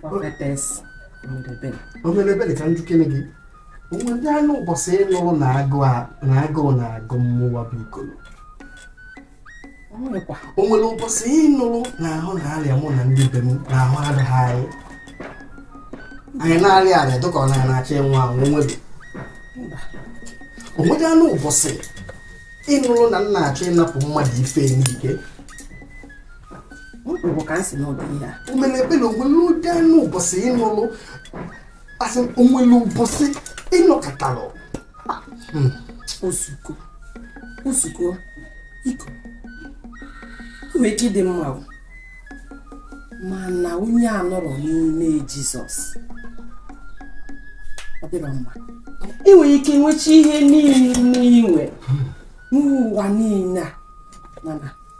Prophetess Omelebele. Omelebele ka m jụkene gị o nwedị anụ ụbọchị ị nụrụ na agụụ na-agụ mmụwa bụ Ikolo o nwere ụbọchị ị nụrụ na ahụ na-arịa mụ na ndị be m na ahụ adịghị anyị anyị na-arịa arịa dịka ọ na na-achọ ịnwụ anwụ nwere o nwere anụ ụbọchị ị nụrụ na m na-achọ ịnapụ mmadụ ife n'ike mkpụrụ ka nsị n'ụdị ihe a o mere ekpe na o nwere ụdị anụ ụbọchị ị nụlụ a sị o nwere ụbọchị ị nọkọtalụ hmm. osuko osuko iko nwere ike ịdị mma mana onye anọrọ n'ime Jizọs ọ dịrọ mma ị nwere ike nwecha ihe niile i nwe n'ụwa niile a mana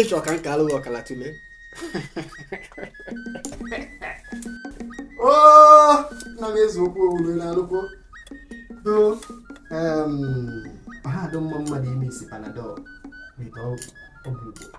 ị chọ ka nke alụghị ọkala tụle oh, na n'eziokwu ọ wụrụ na alụkwo do ha adụ mma mmadụ ime isi panadol weta ọgwụ Igbo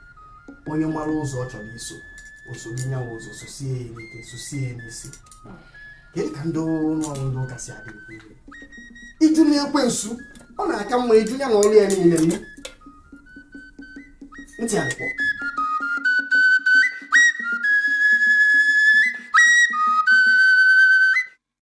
onye mara ụzọ ọ chọrọ iso o soro nya wụ ụzọ sosie ya ike sosie ya n'isi kedu ka ndị ụlọ ọrụ ndị ụka si adị ị jụna ekwensu ọ na-aka mma ị jụ ya na ọrụ ya niile nne ntị alịkpọ